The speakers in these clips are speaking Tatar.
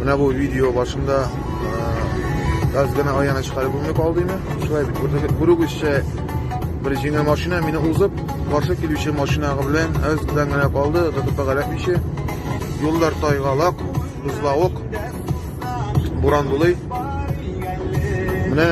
Менә бу видео башында газ гына аяны чыгарып бүлмә калды инде. Шулай бит. Күрдегез, күрүгезчә бер җиңел машина мине узып, каршы килүче машинага белән әз белән генә калды, тотып галәпмичә. Юллар тайгалак, бузлавык, буран булый. Менә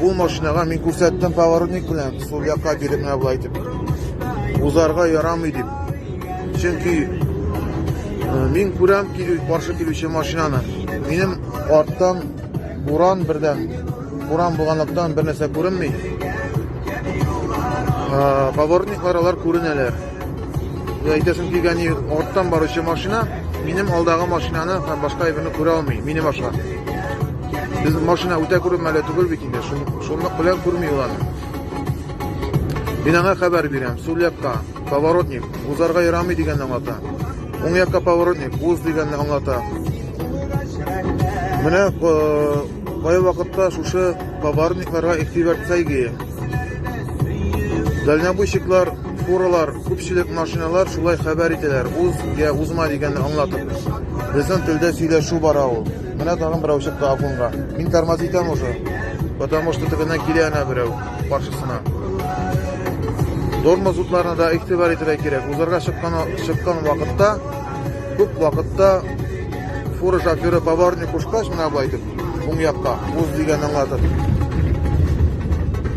ул машинага мин күрсәттем поворотник белән, сул якка биреп менә булай дип. Узарга ярамый дип. Чөнки мин күрәм килү каршы килүче машинаны. Минем арттан буран бердән, буран булганлыктан бер нәрсә күренми. Поворотниклар алар күренәләр. Әйтәсем килгәне, арттан баручы машина минем алдагы машинаны һәм башка әйберне күрә алмый, минем аша. Без машина үтә күрмәле түгел бит инде, шунлык белән күрми ул аны. Мин аңа хәбәр бирәм, сул якка Поворотник, узарга ярамый дигәнне аңлата. Уң якка поворотник, уз дигәнне аңлата. Менә кай вакытта шушы поворотникларга игътибар итсәйге. Дальнобойщиклар, фуралар, күпчелек машиналар шулай хәбәр итәләр. Уз я узма дигәнне аңлатып. Безнең телдә сөйләшү бара ул. Менә тагын берәү чыкты Афонга. Мин тормоз итәм уже. Потому что тегеннән килә ана берәү. каршысына. Тормоз утларына да игътибар итәргә кирәк. Узарга чыккан чыккан вакытта күп вакытта фура шоферы поварник кушкач менә бу әйтеп, уң якка уз дигән аңлатып.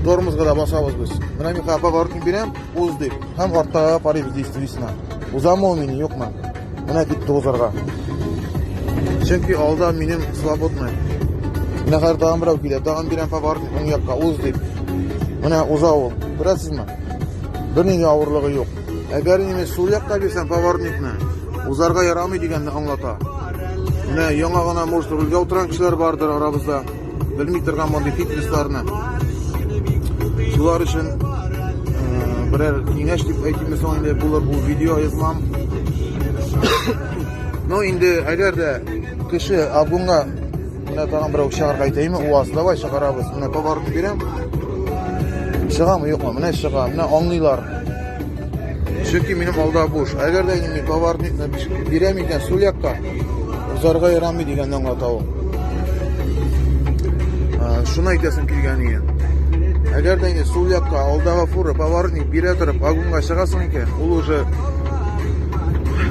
Тормозга да басабыз без. Менә мин хәпа поварник бирәм, уз дип. Һәм артта карыйбыз действительно. Узамы ул мин, юкмы? Менә дип тузарга. Чөнки алда минем свободный. Менә хәзер тагын берәү килә. Тагын бирәм поворотник уң якка уз дип. Менә уза ул. Күрәсезме? Берни дә авырлыгы юк. Әгәр инде сул якка бирсәм поворотникны, узарга ярамый дигәнне аңлата. Менә яңа гына, может, рульгә утырган кешеләр бардыр арабызда. белми торган мондый фитнесларны. Шулар өчен берәр киңәш дип әйтимме соң инде булыр бу видео язмам. Ну инде әгәр дә кеше абунга менә тагын берәү чыгарга әйтәйме, УАЗ давай чыгарабыз. Менә товарны бирәм. Чыгамы юкмы? Менә чыга. Менә аңлыйлар. Чөнки минем алда буш. Әгәр дә инде товар бирәм икән, сул якка узарга ярамый дигән аңлата ул. Шуны әйтәсем килгән иде. Әгәр дә инде сул якка алдагы фура поворотник бирә торып, агунга чыгасың икән, ул уже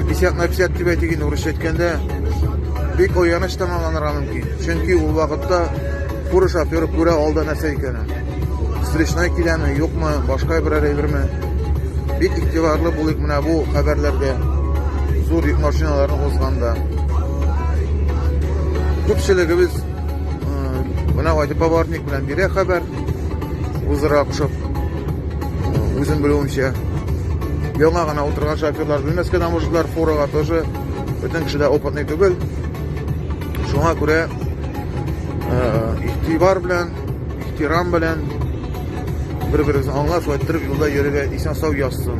50 на 50 дип әйтик инде урысча әйткәндә, бик ояныч тамамланырга мөмкин. Чөнки ул вакытта фура шоферы күрә алда нәрсә икәнен. Встречная киләме, юкмы, башка берәр әйберме? Бик игътибарлы булыйк менә бу хәбәрләргә. Зур йөк машиналарын узганда. Күпчелегебез менә Вадим Поварник белән бирә хәбәр. Үзара кушып үзем белүемчә. Яңа гына утырган шоферлар белмәскә дә мужиклар фурага тоже бөтен кеше дә опытный түгел. Шуңа күрә игътибар белән ихтирам белән бер берегезне аңлап шулай иттереп юлда йөрергә исән сау язсын